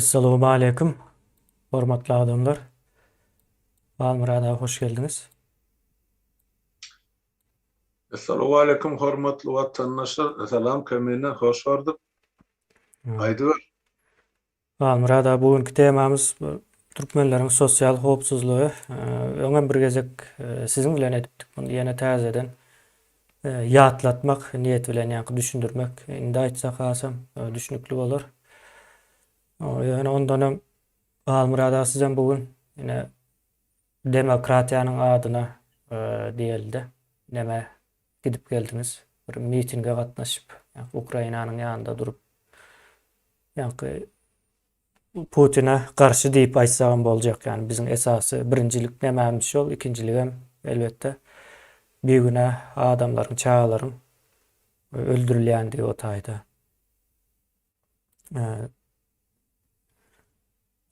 Essalawmaleýkum hormatly adamlar. Halmyrat aga hoş geldiňiz. Essalawmaleýkum hormatly watandaşlar. Salam Kamine hoş gördük. Aýdyber. Halmyrat aga bu günki temamyz bu türkmenleriň sosial howpsuzlygy. Öňem bir gezek siziň bilen edipdik muny ýene täzeden ýatlatmak niýeti bilen ýaňky düşündirmek indi aýtsak hasam düşnükli bolar. Ýöne ondan öň Halmyrat aga sizem bu gün ine demokratiýanyň adyna diýelde neme Gidip geldiňiz. Bir mitinge gatnaşyp, ýa-da Ukrainanyň ýanynda durup, ýa-da Putine garşy diýip aýtsagam boljak. Ýani biziň esasy birinjilik nemämiz şol, ikinjiligem elbetde bigünäh adamlaryň, çagalaryň öldürilýändigi o taýda.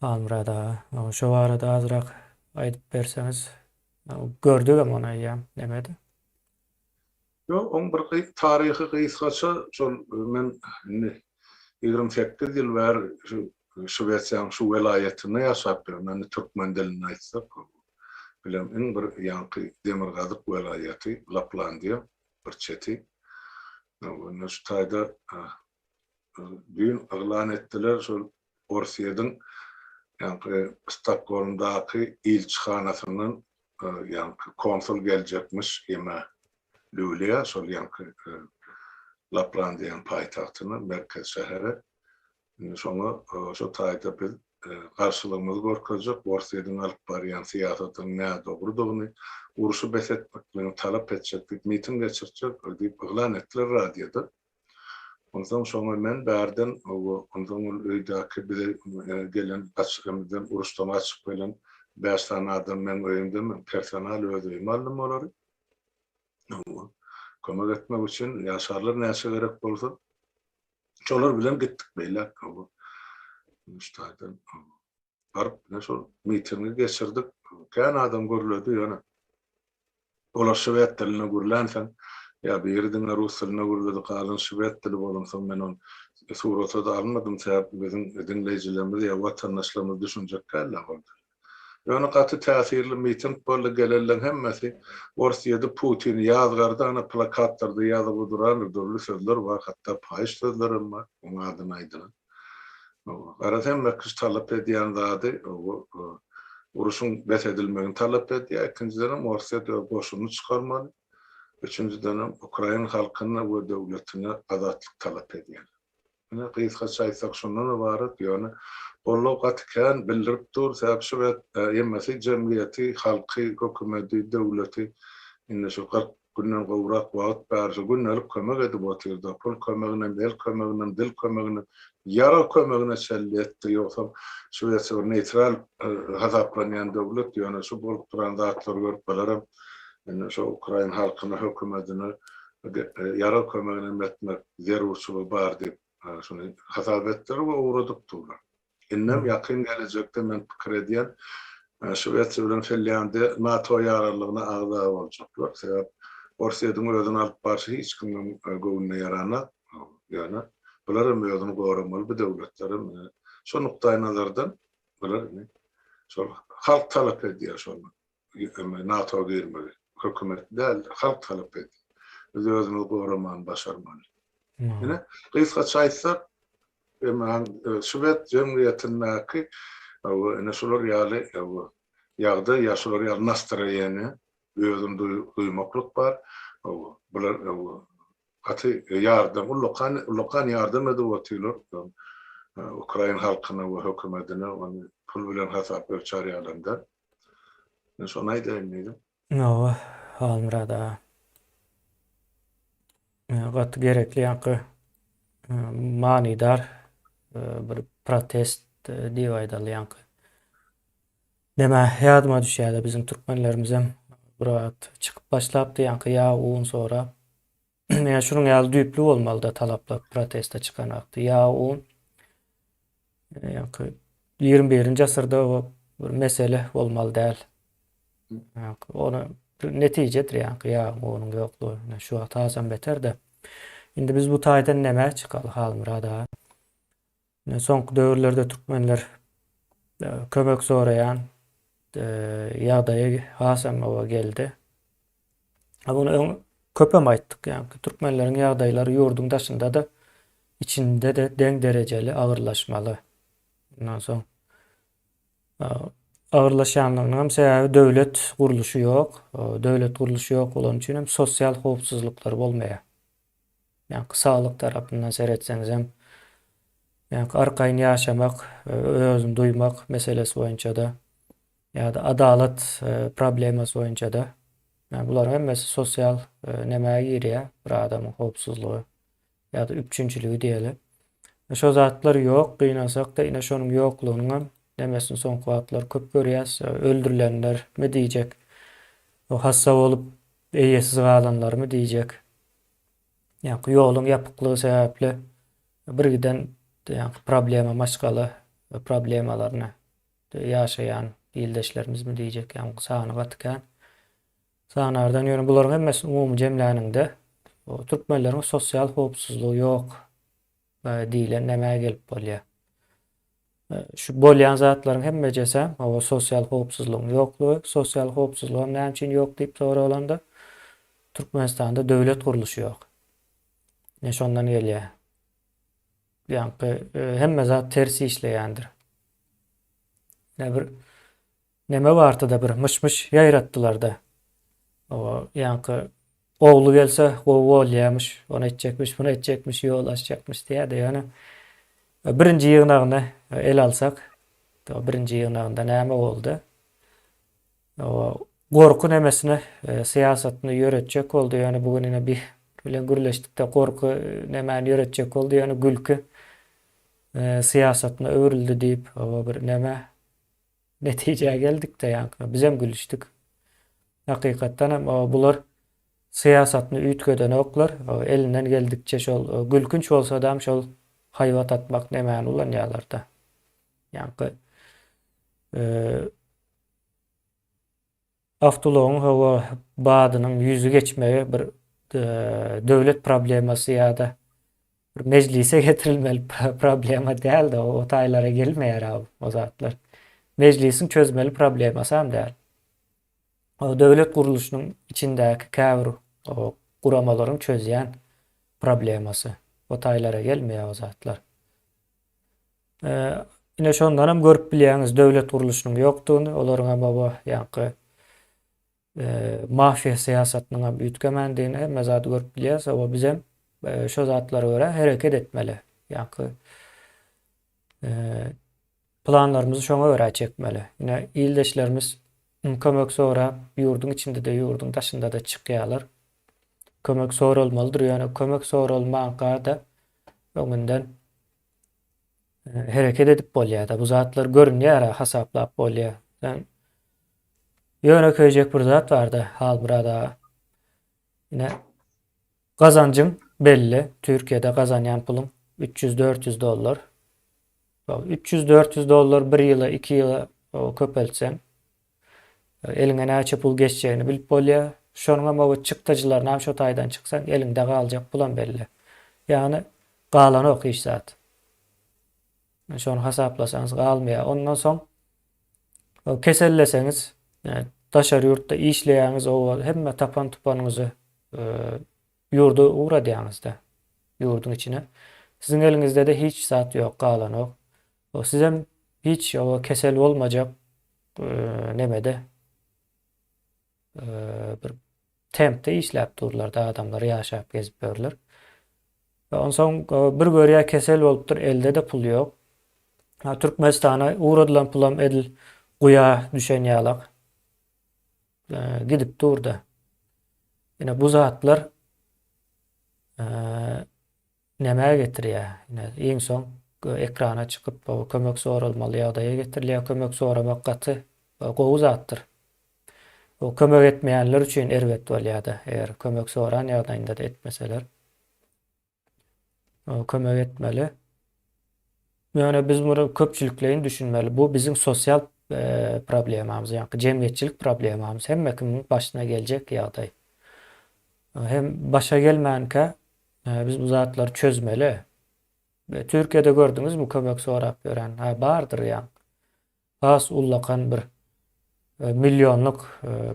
Halmyrat aga, şo barada azrak aýdyp berseňiz. Gördügem ony eýýäm nemede. Ýok, oň bir taryhy gysgaça şol men indi ýigrimi sekiz ýyl bäri şu Şwesiýanyň şu welaýatynda ýaşap ýörün. Indi türkmen dilinde aýtsak bilen iň bir ýaňky demirgazyk welaýaty Laplandiýa bir çeti. Onda şu taýda düýn yglan etdiler, şol Orsýetiň ýaňky Stokgolmdaky ilçihanasyndan ýaňky konsul geljekmiş Ýeme Lýuliýa, şol ýaňky Laplandiýanyň paýtagtyna, merkez şähere. Indi şoňa şo taýda biz garşylygymyzy görkezjek, Orsýetiň alyp barýan syýasatynyň nädogrudygyny, urşy bes etmekligini talap etjek diýip miting geçirtjek diýip yglan etdiler radioda. Onsoň şoňa men bärden, onsoň ol öýdäki bize gelen gaçyk-ymyzdan, uruşdan gaçyp gelen bäş sany adam meň öýümdemen, personal öz öýüme aldym olary. Kömek etmek üçin ýaşarlar näçe gerek bolsa. Şolar bilen gitdik beýläk. Şu taýdan. baryp ine şol mitingi geçirdik. Kän adam gürledi ýöne olar şwed dilinde gürlänsoň ýa biri diňe rus dilinde gürledi galan şwed dili bolansoň men ony surata-da almadym sebäp biziň diňleýjilerimiz ýa watandaşlarymyz düşünjek däl-ä ol dili. Ýöne gaty täsirli miting boldy gelenleň hemmesi ors ýedi Putin ýazgardy ana plakatlarda ýazyp odurandyr dürli sözler bar hatda paýyş sözlerem bar oň adyna aýdylan. Garaz hemme kişi talap edýän zady uruşyň bes edilmegini talap edýär. Ikinjidenem Orsýet öz goşunyny çykarmaly. Üçünjidenem ukrain halkyna we döwletine azatlyk talap edýär. Ine gysgaça aýtsak şundan ybarat. Ýöne goldaw gaty kän bildirip dur. Sebäbi şu wagt hemmesi jemgyýeti, halky, hökümeti, döwleti indi şu kyrk Günden gowrak wagt bärde gündelik kömek edip otyrda, pul kömeginem, el kömeginem, dil kömeginem, ýarag kömegine çenli etdi, ýogsam Şwesiýa bir neýtral hasaplanýan döwlet, ýöne şu bolup duran zatlary görüp bularam indi şo ukrain halkyna, hökümetine ýarag kömeginem etmek zerurçylygy bar diýip şuny hasap etdiler we ugradyp durlar. Indem ýakyn gelejekde men pikir edýän, Şwesiýa bilen Finlýandiýa NATO ýaraglygyna agza boljaklar. Sebäp Orsýediň özüni alyp barşy hiç kimiň göwnüne ýaranok. Ýöne bular hem özüni goramaly bu döwletler hem ine şo nukdaýnazardan bular indi şol halk talap edýär şonda. NATO-a girmegi hökümet däl, halk talap etdi. Biz özümizi goramany başarmaly. Ine, gysgaça aýtsak, eman şwed jemgyýetindäki we ine şular ýaly ýagdaý ýa şular ýaly nastroýeniýa özüni duýmaklyk bar. Bular gaty ýardam, ullakan, ullakan ýardam edip otyrlar ukrain halkyna we hökümetine, ony pul bilen hasap ölçär ýalamda. Men şony aýdaýyn diýdim. Hawa, Halmyrat aga. Gaty gerekli ýaňky manydar bir protest diýip aýdaly ýaňky. Näme ýadyma düşýärdi biziň türkmenlerimizem bir wagt çykyp başlapdy ýaňky ýa un sorap Ýa şunuň ýaly düýpli bolmalyda talaplar proteste çykan wagty. Ýa o ýaňky 21-nji asyrda bu bir mesele bolmaly däl. Ýaňky ony netijedir ýaňky ýa onuň ýoklugy. Şu wagt hasam beter-de. Indi biz bu taýdan nämä çykaly Halmyrat aga? Soňky döwürlerde türkmenler kömek soraýan ýagdaýa hasam oba geldi. Bunu öň köpem aýtdyk. Ýagny türkmenleriň ýagdaýlary ýurduň daşynda-da, içinde-de deň derejeli agyrlaşmaly. Ondan soň agyrlaşýanlygynyň hem sebäbi döwlet gurluşy ýok. Döwlet gurluşy ýok bolany üçin hem sosial howpsuzlyklary bolmaýar. Ýaňky saglyk tarapyndan seretseňizem, ýaňky arkaýyn ýaşamak, özüni duýmak meselesi boýunça-da ýa-da adalat problemasy boýunça-da, ýa bularyň hemmesi sosial nemä girýär, bir adamyň howpsuzlygy ýa-da üpjünçiligi diýeli. Şo zatlar ýok, gynansakda ine şonuň ýoklugynyňam nemesini soňky wagtlar köp görýäs, öldürilenlermi diýjek, hassa bolup eýesiz galanlarmy diýjek, Ýaňky ýoluň ýapyklygy sebäpli birgiden ýaňky problema maşgala we problemalaryna ýaşaýan ildeşlerimizmi diýjek ýaňky sany gaty kän. Sanardan ýöne bularyň hemmesini umumy jemläniňde türkmenleriň sosial howpsuzlygy ýok Diýlen nämä gelip bolýar? Şu bolýan zatlaryň hemmejesi o sosial howpsuzlygyň ýoklugy, sosial howpsuzlygam näme üçin ýok diýip soralanda, Türkmenistanda döwlet gurluşy ýok. Ne şondan gelýär. Ýaňky e, hemme zat ters işleýändir. Ne bir Neme bartyda bir myş-myş ýaýratdylarda. Oba ýaňky ogly gelse gowy bolýamyş, ony etjekmiş, muny etjekmiş, ýol açjakmyş diýýärdi. Ýöne birinji ýygnagyny ele alsak, birinji ýygnagynda näme boldy? Oba gorky nemesini syýasatyny ýöretjek boldy. Ýöne bu gün ine bih bilen gürleşdikde gorky nemäni ýöretjek boldy? Ýöne gülki syýasatyna öwrüldi diýip, oba bir neme. Netijä geldikde ýaňky bizem gülüşdik. Hakykatdan hem bular syýasatyny üýtgedenoklar. Elinden geldikçe şol gülkünç bolsadam şol haýbat atmak nemäni ulanýarlarda. Ýaňky Awtoulagyň howa badynyň ýüzi geçmegi bir döwlet problemasy ýa-da bir mejlise getirilmeli problema däl-de, o taýlara gelmeýär o zatlar. Mejlisiň çözmeli problemasam däl. O döwlet gurluşynyň içindäki käbir guramalaryň çözýän problemasy. O taýlara gelmeýär o zatlar. Ine şondan hem görüp bilýäňiz döwlet gurluşynyň ýokdugyny, olaryň hem oba ýaňky mafiýa syýasatynyň hem üýtgemändigini hemme zady görüp bilýäris. Oba biz hem şo zatlara görä hereket etmeli. Ýaňky planlarymyzy şoňa görä çekmeli. Ine ildeşlerimiz kömek sorap ýurduň içinde-de, ýurduň daşynda-da çykýarlar. Kömek soralmalydyr, ýöne kömek soralmanka-da öňünden hereket edip bolýar-da. Bu zatlar görünýär, hasaplap bolýar. Sen ýönekeýjek bir zat barda Halmurad aga. Ine gazanjyň belli. Türkiýede gazanýan puluň 300-400 dollar. 300-400 dollar bir ýyla, iki ýyla köpeltseň, Eliňe näçe pul geçjegini bilip bolýar. Şonuňam oba çykdajylarynam şo taýdan çyksaň eliňde galjak pulam belli. Ýagny galanok hiç zat. Şony hasaplasaňyz galmaýar. Ondan soň keselleseňiz, daşary ýurtda işleýäňiz oba hemme tapan tupanyňyzy ýurda ugradýaňyzda, ýurduň içine. Siziň eliňizdede hiç zat ýok, galanok. Sizem hiç kesel bolmajak nemede bir tempde işläp durlarda adamlar ýaşap gezip ýörler. Onsoň bir görýä kesel bolupdyr, elde de pul ýok. Türkmenistana ugradylan pulam edil guýa düşen ýalak gidip durda. Ine bu zatlar Nämä getirýär? Ine, iň soň ekrana çykyp, kömek soralmaly ýagdaýa getirilýär. Kömek soramak gaty gowy zatdyr. Bu kömek etmeýänler üçin erbet bolýar-da, eger kömek soran ýagdaýynda-da etmeseler. Kömek etmeli. Ýöne biz muny köpçülikleýin düşünmeli. Bu biziň sosial problemamyz, ýa-da jemgyýetçilik problemamyz. Hemme kimiň başyna geljek ýagdaý. Hem başa gelmänkä, Biz bu zatlary çözmeli. Türkiýede gördüňizmi kömek sorap ýören? Hä, bardyr ýaň. Has ullakan bir millionlyk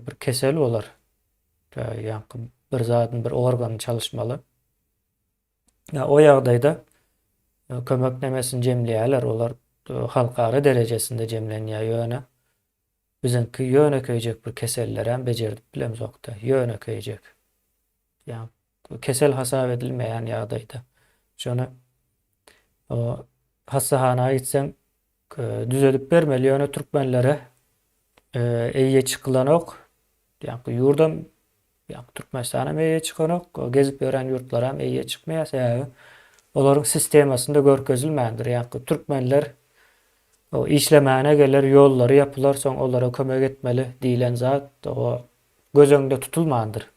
bir kesel olar. Ýaňky bir zadyň bir organy çalyşmaly. Ýa o ýagdaýda kömek nemesini jemleýärler, olar halkara derejesinde jemlenýär ýöne biziňki ýönekeýjek bir kesellerem bejerdip bilemzok-da, ýönekeýjek. Ýa Kesel hasap edilmeýän ýagdaýda, şony hassahana gitseň düzedip bermeli, ýöne türkmenlere eýýe çykylanok. Ýagny ýurdam, ýagny Türkmenistanam eýýe çykanok, gezip ýören ýurtlaram eýýe çykmaýar, sebäbi olaryň sistemasynda görkezilmändir. Ýagny türkmenler işlemäne geler, ýollary ýapylar, soň olara kömek etmeli diýlen zat göz öňünde tutulmandyr.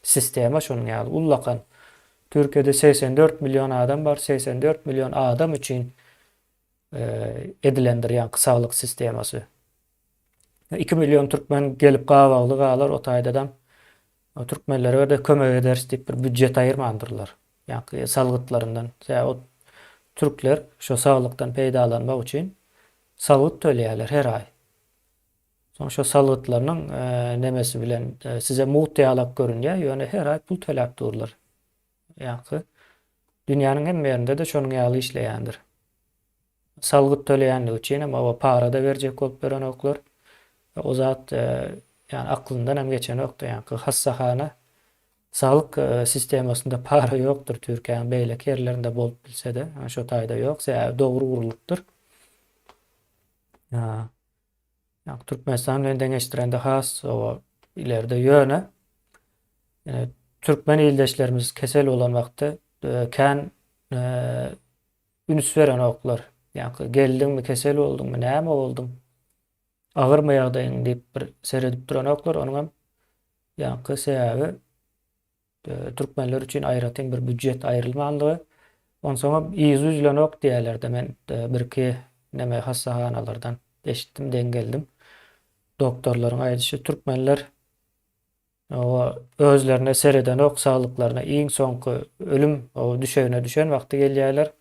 Sistema şonuň ýaly ullakan. Türkiýede segsen dört million adam bar, segsen dört million adam üçin edilendir ýaňky saglyk sistemasy. Iki million türkmen gelip gabawly galar o taýdadam türkmenlere-de kömek ederis diýip bir býujet aýyrmandyrlar. Ýaňky salgytlaryndan. Sebäbi o türkler şo saglykdan peýdalanmak üçin salgyt töleýärler her aý. Soň şo salgytlarynyň nemesi bilen size mugt ýalak görünýär, ýöne her aý pul töläp durlar. Ýagty, dünýäniň hemme ýerinde-de şonuň ýaly işleýändir. Salgyt töleýänligi üçinem oba para-da berjek bolup duranoklar. O zat, ýagny aklyndanam geçenokdy, ýagny hassahana, saglyk sistemasynda para ýokdur, Türkiýäniň beýleki ýerlerinde bolup bilse-de, şo taýda ýok, sebäbi dogry gurlupdyr. Ýa Türkmenistan bilen deňeşdirende has oba ileride ýöne türkmen ildeşlerimiz kesel bolan wagty kän üns berenoklar. Ýa geldiňmi, kesel bolduňmy, näme bolduň? Agyrmy ýagdaýyň diýip bir seredip duranoklar. Onuň hem ýaňky sebäbi Türkmenler üçin aýratyn bir býujet aýrylmandygy, onsoňam yzy üzlenok diýýärler-de, men birki neme hassahanalardan eşitdim, deň geldim. Doktorlaryň aýdyşy, türkmenler oba özlerine seredenok, saglyklaryna iň soňky ölüm oba düşegine düşen wagty gelýärler.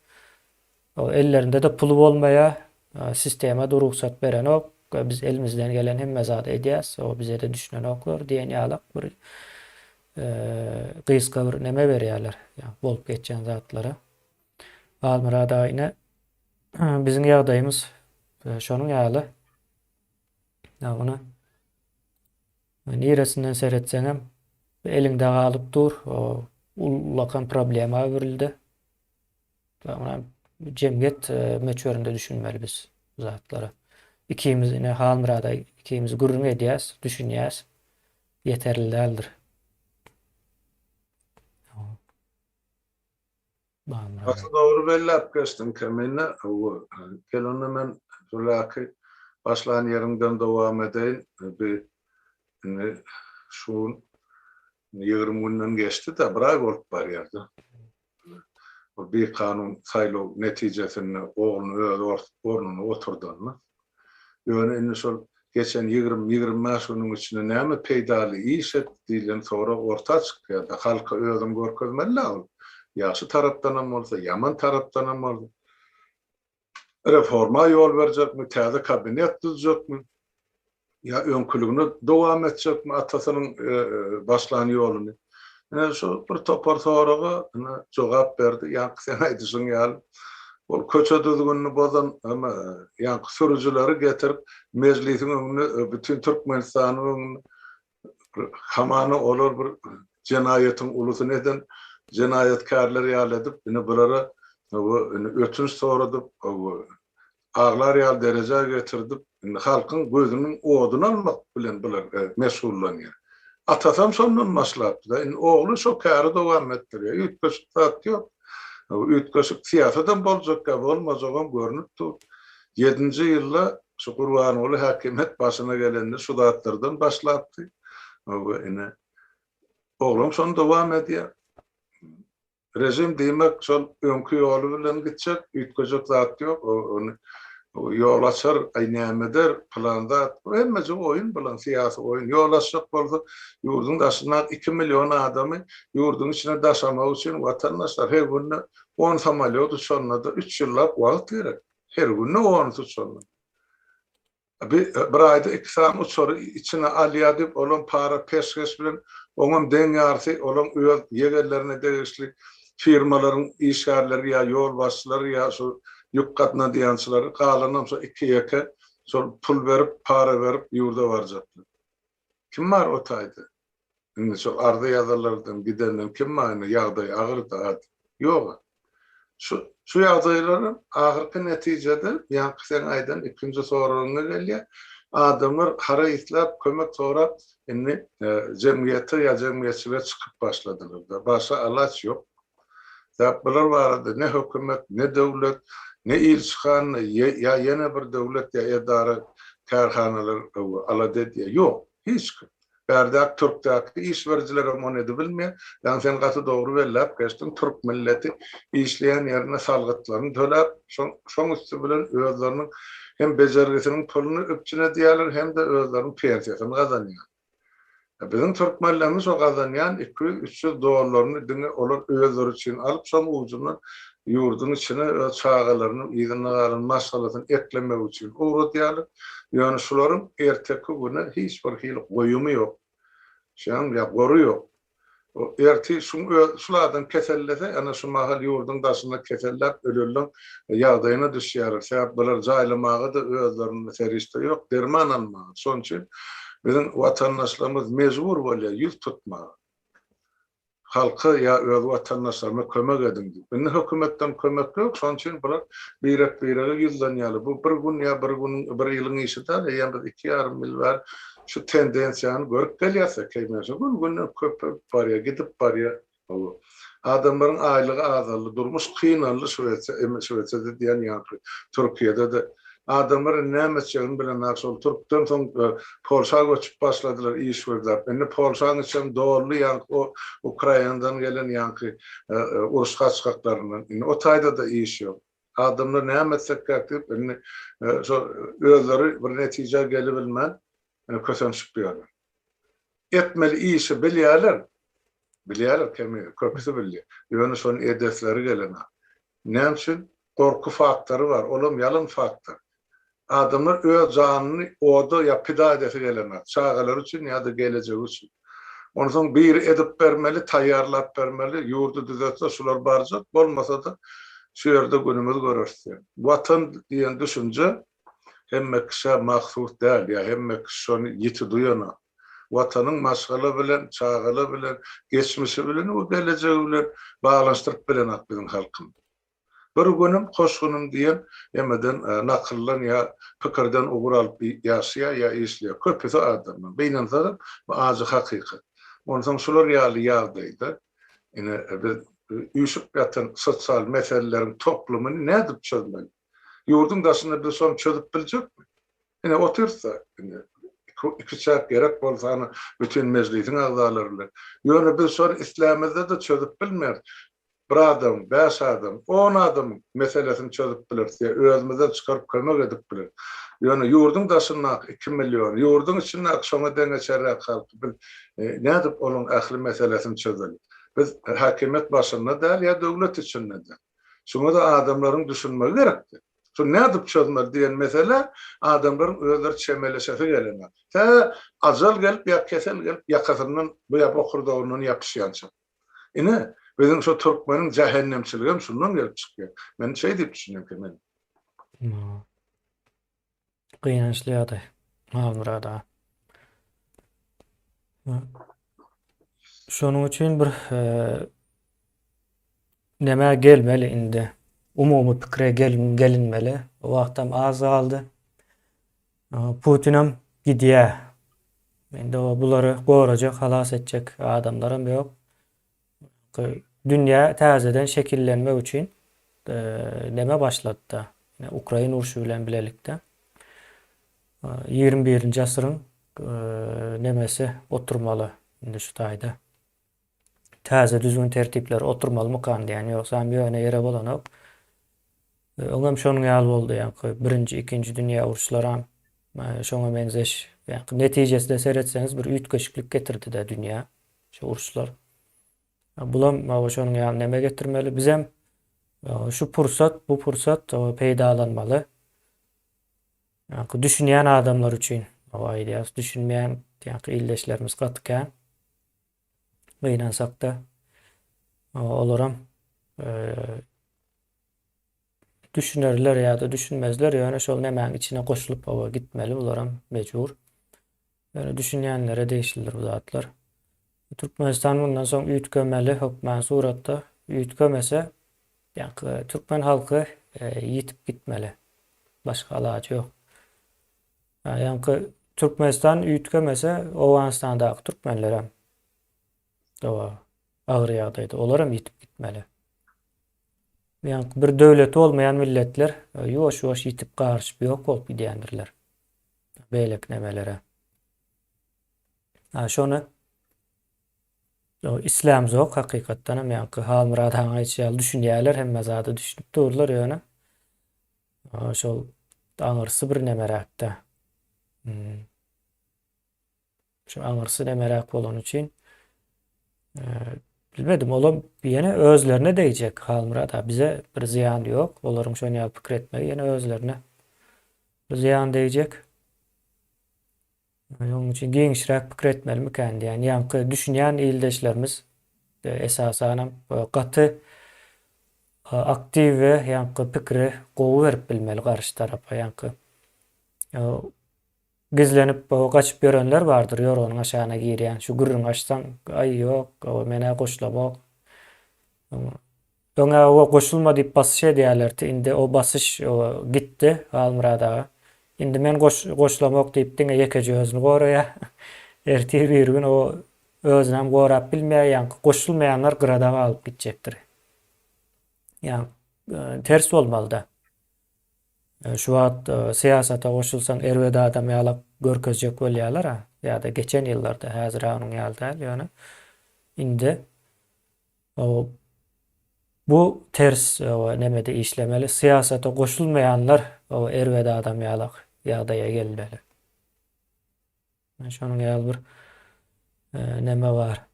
Ellerinde-de puly bolmaýar. Sistema-da rugsat berenok. Biz elimizden gelen hemme zady edýäs. Bize-de düşünenoklar diýen ýalak bir gysga bir neme berýärler bolup geçen zatlara. Halmyrat aga ine biziň ýagdaýymyz şonuň ýaly. Ýagny niresinden seretseňem eliňde galyp dur. Ullakan problema öwrüldi. Ýagny jemgyýet möçberinde düşünmeli biz bu zatlara. Ikimiz ine Halmyrada ikimiz gürrüň edýäs, düşünýäs. Ýeterli däldir. Başda dogry belläp geçdiň Kemine. Hawa, gel onda men Zulaky başlan ýeriňden dowam edeýin. Bi indi şu gün ýigrimi günden geçdi-de, bir aý bolup barýar-da. ol bikanun saýlaw netijesinde ogluny öz ornuna oturdanyna, ýöne indi şol geçen ýigrimi, ýigrimi bäş günüň içinde näme peýdaly iş etdi diýlen sorag orta çykýar-da, halka özüni görkezmeli-dä ol. Ýagşy tarapdanam bolsa, ýaman tarapdanam bolsa. Reforma ýol berjekmi, täze kabinet düzjekmi, ýa öňküligine dowam etjekmi atasynyň başlan ýoluny? Ine şu bir topar soraga ine jogap berdi. Ýaňky seň aýdyşyň ýaly, ol köçe düzgünini bozan ine ýaňky sürüjileri getirip mejlisiň öňünde bütin Türkmenistanyň öňünde hamana olar bir jenaýatyň ulusyny eden jenaýatkärler ýaly edip, indi bulara ötünç soradyp, aglar ýaly derejä getirdip, indi halkyň gözüniň oduny almak bilen bular meşgullanýar. Atasam şondan başlapdy-da, indi ogly şo käri dowam etdirýär. Üýtgeşik zat ýok. Üýtgeşik syýasadam boljakka, bolmajagam görnüp dur. Ýedinji ýylda Şu Gurbanguly häkimiýet başyna gelende şu zatlardan başlapdy. We ine oglan şony dowam edýär. Režim diýmek şol öňki ýoly bilen gitjek, üýtgejek zat ýok. Ony ýol açar, aý näme eder, pylan zat. Bu hemmeje oýun bulan, syýasy oýun. Ýol açjak bolsa, ýurduň daşyna iki million adamy ýurduň içine daşamak üçin watandaşlar her günde on samolýot uçanda-da üç ýyllap wagt gerek. Her günde on üç uçar. Bir aýda iki sany uçary içine alýar diýip, olam para peşgeş bilen, oňam deň ýarysy olaň öz ýegenlerine degişli firmalaryň işgärleri ýa ýolbaşçylary ýa şu ýük gatnadýançylary, galanam şo iki-ýeke şol pul berip, para berip ýurda barjaklar. Kim bar o taýda? Indi şol arza ýazarlardan gidenden kim bar indi ýagdaý agyrdy a diýip. Ýog-a. Şu şu ýagdaýlaram ahyrky netijede ýaňky seň aýdan ikinji soragyňa gelýär. Adamlar hara islap kömek sorap indi jemgyýete ýa jemgyýetçilige çykyp başladylar-da. Başga alaç ýok. Däp bular barada ne hökümet, ne döwlet, ne ilçihana ýa ýene bir döwlet ýa edara, kärhanalar alada edýär. Ýok, hiç kim. Bärdäki türkdäki iş berijilerem ony edibilmeýär. Ýagny sen gaty dogry belläp geçdiň, türk milleti işleýän ýerinde salgytlaryny töläp, şoň üsti bilen özleriniň hem bejergisiniň puluny üpjün edýärler hem-de özleriniň pensiýasyny gazanýarlar. Biziň türkmenlerimiz şo gazanýan iki ýüz, üç ýüz dollaryny diňe olar özleri üçin alyp, şoň ujundan ýurduň içine öz çagalarynyň yzynda galan maşgalasyny eklemek üçin ugradýarlar. Ýöne şularyň erteki güne hiç bir hili goýumy ýok. Şeýdibem ýa gory ýok. Ertir şu öz şul adam kesellese, ene şu mahal ýurduň daşynda keselläp ölenleň ýagdaýyna düşýäris. Sebäp bular jaýlamaga-da özlerinde serişde ýok, derman almaga. Şonuň üçin biziň watandaşlarymyz mejbur bolýar ýüz tutmaga. Halka ýa öz watandaşlaryna kömek ediň diýip. Indi hökümetden kömek ýok, şonuň üçin bular birek-birege ýüzlenýärler. Bu bir gün ýa bir gün, bir ýylyň işi däl, eýýäm biz iki ýarym ýyl bäri şu tendensiýany görüp gelýärse keýmänçilik gün-günden köpelip barýar, gidip barýar. Hawa. Adamlaryň aýlygy azaldy, durmuş kynaldy Şwesiýa, indi Şwesiýada diýýän ýaňky Türkiýede-de. Adamlar indi näme etjegini bilenok, şol türkden soň Polşa göçüp başladylar iş gözläp. Indi Polşanyň içem doldy ýaňky o Ukrainadan gelen ýaňky uruş gaçgaklaryndan. Indi o taýda-da iş ýok. Adamlar näme etsekkäk diýip, indi şol özleri bir netijä gelibilmän kösenişip ýörler. Etmeli işi bilýärler. Bilýärler, kemi, köpüsi bilýär. Ýöne şony edesleri gelenok. Näme üçin? Gorky faktory bar. Olam ýalan faktor. Adamlar öz janyny oda ýa pida edesi gelenok, çagalary üçin ýa-da gelejegi üçin. Onsoň biri edip bermeli, taýýarlap bermeli, ýurdy düzetse şular barjak, bolmasa-da şu ýerde günümiz göreris diýen. Watan diýen düşünje hemme kişä mahsus däl ýa hemme kişi şony ýiti duýanok. Watanyň maşgala bilen, çagala bilen, geçmişi bilen we gelejegi bilen baglanyşdyryp bilenok biziň halkymyz. Bir günim Hoşgynym diýen emeden, nakyldan ýa pikirden ugur alyp ýaşaýar ýa işleýär. Köpüsi adamdan. Gynansaňam, bu ajy hakykat. Onsoň şular ýaly ýagdaýda, ine, biz üýşüp ýatan sosial meseleleriň toplumyny nädip çözmeli? Ýurduň daşynda biz şony çözüp biljekmi? Ine, otyrys-da, indi iki çäk gerek bolsa, ana, bütin mejlisiň agzalary bilen. Ýöne biz şony islämizde-de çözüp bilmeris. Bir adam, bäş adam, on adamyň meselesini çözüp bileris ýa özümizden çykaryp kömek edip bileris. Ýöne ýurduň daşyndaky iki million, ýurduň içindäki şoňa deňeçerräk halky biz nädip olaň ähli meselesini çözeli? Biz häkimiýet başynda däl ýa döwlet içinde däl. Şuňa-da adamlaryň düşünmegi gerekdi. Şuny nädip çözmeli diýen meselä adamlaryň özleri çemeleşesi gelenok. Tä ajal gelip ýa kesel gelip ýakasyndan ýa bokurdagyndan ýapyşýança. Ine, biziň şo türkmeniň jähennemçiligem şundan gelip çykýar. Men şeý diýip düşünýänkä men. Gynançly ýagdaý, Halmyrat aga. Şonuň üçin bir nämä gelmeli indi? Umumy pikire gelinmeli. Wagtam az galdy. Putinem gidýä. Indi bulary gorajak, halas etjek adamlaram ýok. Dünýä täzeden şekillenmek üçin neme başlady-da, ukrain urşy bilen bilelikde ýigrimi birinji asyryň nemesi oturmaly indi şu taýda. Täze düzgün-tertipler oturmalymykan diýen, ýogsam ýöne ýere bolanok. Öňem şonuň ýaly boldy, ýaňky Birinji, Ikinji dünýä uruşlaram şoňa meňzeş. Ýaňky netijesine seretseňiz bir üýtgeşiklik getirdi-dä dünýä şu uruşlar. Bulam şonuň ýaly neme getirmeli. Bizem şu pursat, bu pursat peýdalanmaly. Ýaňky düşünýän adamlar üçin aýdýarys, düşünmeýän ýaňky ildeşlerimiz gaty kän. gynansak-da, olaram düşünerler ýa-da düşünmezler, ýöne şol nämäň içine goşulyp oba gitmeli, bularam mejbur. Ýöne düşünýänlere degişlidir bu zatlar. Türkmenistan mundan soň üýtgemeli hökmän suratda. Üýtgemese, ýa-da türkmen halky ýitip gitmeli. Başga alaç ýok. Ýaňky Türkmenistan üýtgemese, Owganystandaky türkmenler hem dawa agyr ýagdaýda. Olar hem ýitip gitmeli. Ýaňky bir döwleti bolmaýan milletler e, ýuwaş-ýuwaş ýitip garyşyp ýok bolup gidýändirler. Beýleki nemelere. Ha şony islam zok hakykatdan hem ýaňky Halmyrad han aýtýar, düşünýärler hemme zada düşünip durlar ýöne Aa şol aňyrsy bir nemeräkdä. Hmm. Şu aňyrsy nemeräk bolany üçin eee, bilmedim, olam ýene özlerine degjek Halmyrat aga. Bize bir zyýan ýok. Olaryň şon ýaly pikir etmegi ýene özlerine zyýan degjek. Ýagny onuň üçin giňişräk pikir etmelimikän diýýän. Ýaňky düşünýän ildeşlerimiz esasanam gaty aktiw we ýaňky pikiri gowy berip bilmeli garşy tarapa. Ýaňky gizlenip gaçyp ýörenler bardyr ýorganyň aşagyna girýän şu gürrüňi açsaň aý ýok men-ä goşulamok Öňe oba goşulma diýip basyş edýälerdi, indi o basyş gitdi, Halmyrat aga. Indi men goşulamok diýip diňe ýekeje özüni goraýar. Ertir bir gün o özünem gorap bilmeýär, ýaňky goşulmaýanlar gyrada galyp gitjekdir. Ýaňky ters bolmalyda. Şu wagt syýasata goşulsaň erbet adam ýalap görkezjek bolýarlar-a, ýa-da geçen ýyllarda, häzir-ä onuň ýaly däl, ýöne indi Bu ters nemede işlemeli, syýasata goşulmaýanlar erbet adam ýalak ýagdaýa gelmeli. Şonuň ýaly bir neme bar.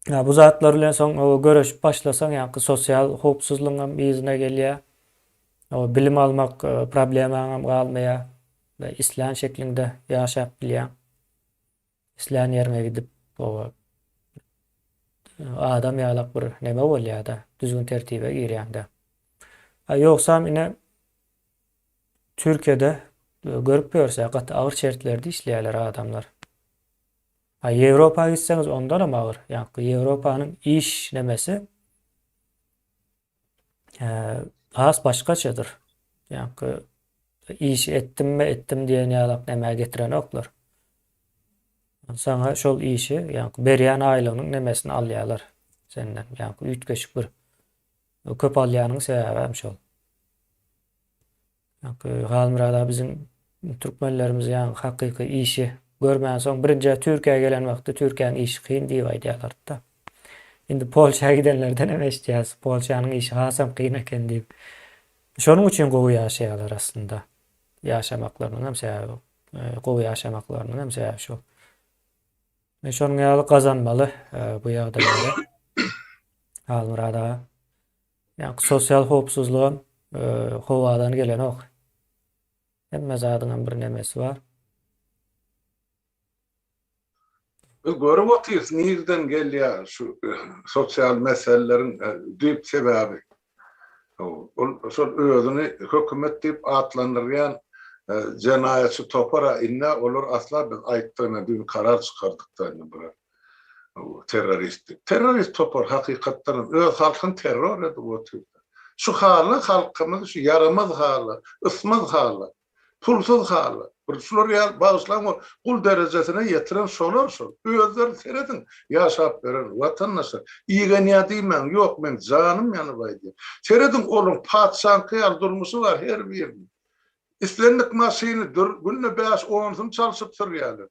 Ýa bu zatlar bilen soň göreşip başlasaň ýaňky sosial howpsuzlygyňam yzyna gelýär. Bilim almak problemaňam galmaýar we islän şekliňde ýaşap bilýäň. Islän ýeriňe gidip oba adam ýalak bir neme bolýada düzgün tertibe girýäňde. A ýogsam ine Türkiýede görüp ýörse gaty agyr şertlerde işleýäler adamlar. A Ýewropa gitseňiz ondanam agyr. Ýaňky Ýewropanyň iş nemesi has başgaçadyr. Ýaňky işi etdim we etdim diýen ýalak nämä getirenoklar. Saňa şol işi, ýaňky berýän aýlygynyň nemesini alýarlar senden. Ýaňky üýtgeşik bir köp alýanyň sebäbi hem şol. Ýaňky Halmyrat aga biziň türkmenlerimiz ýaňky hakyky işi görmänsoň birinjä Türkiýä gelen wagty Türkiýäň işi kyn diýip aýdýarlardyda. Indi Polşa gidenlerdenem eşitýäs Polşanyň işi hasam kyn eken diýip. Şonuň üçin gowy ýaşaýarlar aslynda. Ýaşamaklarynyň hem sebäbi gowy ýaşamaklarynyň hem sebäbi şo. Men şonuň ýaly gazanmaly bu ýagdaýlary. Halmyrat aga. Ýaňky sosial howpsuzlygam howadan gelenok. Hemme zadyňam bir nemesi bar. Biz görüp otyrys nirden gelýär şu sosial meseleleriň düýp sebäbi. Ol şol özüni hökümet diýip atlandyrýan jenaýatçy topar-a indi-ä olar asla biz aýtdygyna düýn karar çykardykda indi bular. Bu terroristlik. Terrorist topar hakykatdanam öz halkyny terror edip otyrda. Şu hala halkymyz şu ýaramaz hala, ysmaz hala, pulsuz hala. Bir şular ýaly bagyşlaň o gul derejesine ýetiren şolar şol. Özleri serediň ýaşap berer watandaşlar. Igenýä diýmäň ýok men janym ýanyp aýdýan. Serediň olaň patyşaňky ýaly durmuşy bar her biriniň. Islendik maşyny dur, günde bäş onsyny çalşyp sürýärler.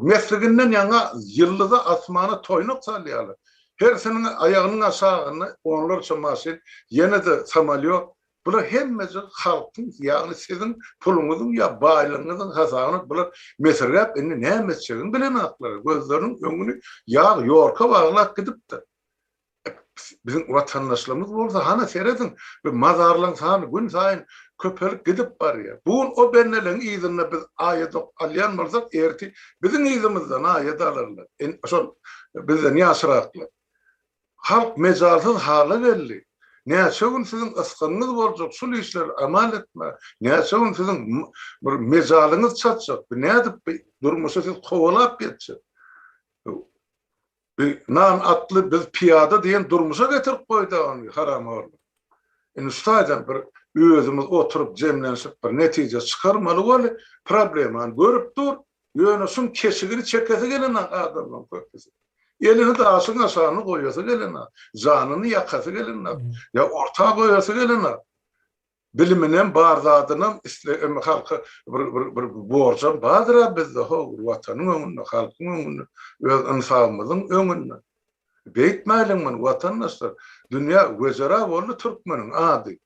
Mesliginden ýaňa ýyldyza, asmana toýnak salýarlar. Hersiniň aýagynyň aşagynda onlarça maşyn, ýene-de samolýot. Bular hemmejik halkyň, ýagny siziň puluňyzyň ýa baýlygyňyzyň hasabyna bular mesirgäp indi näme etjegini bilenoklar. Gözleriniň öňüni ýag ýorka baglap gidipdir. Biziň watandaşlarymyz bolsa hany serediň, bir mazarlaryň sany gün saýyn köpelip gidip barýar. Bu gün o bendeleň yzynda biz aýadok alýan bolsak, ertir biziň yzymyzdan aýat alarlar. Şol bizden ýaşraklar. Halk mejalsyz hala geldi. Näçe gün siziň ysgynyňyz boljak şul işleri amal etmä? Näçe gün siziň bir mejalyňyz çatjak? Nädip bu durmuşy siz kowalap geçjek? Bi nan atly biz pyýada diýen durmuşa getirip goýda ony haramhorlar. Indi şu taýdan bir özümiz oturyp jemlenşip bir netije çykarmaly weli problemany görüp dur ýöne şuň keşigini çekesi gelenok adamlaň köpüsi. Elini daşyň aşagyna goýasy gelenok, janyny ýakasy gelenok, ýa orta goýasy gelenok. Biliminem bar zadynam isle emma halka bir bir bir borjam bardyra bizde how bir watanyň öňünde halkyň öňünde öz ynsabymyzyň öňünde beýtmäliň muny watandaşlar dünýä wejera boldy türkmeniň ady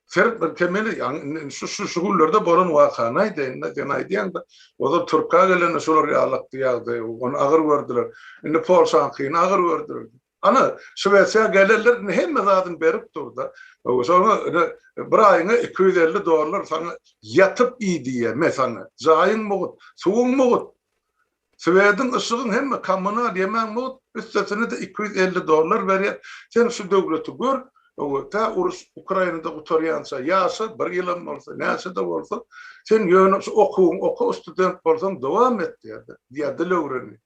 Seret bir kemeli indi şu şu şu günlerde bolan wakany aýdaýynda sen aýdýaňda ozal türka gelende şular ýalakdy ýagdaýy ony agyr gördüler indi polşaňkyny agyr gördüler Ana, Şwesiýa gelenler indi hemme zadyny berip dur-da, soňra indi bir aýyňa iki ýüz elli dollar saňa ýatyp iý diýýär. Me, saňa jaýyň mugt, suwuň mugt, swediň, yşygyň, hemme kommunal, ýemäň mugt, üstesine-de iki ýüz elli dollar berýär. Sen şu döwleti gör, tä uruş Ukrainada gutarýança ýaşa, bir ýylam bolsa, näçe-de bolsa, sen ýöne şu okuwyňy oka, student bolsaň, dowam et diýýär-de, diýýär dil öwrenýär.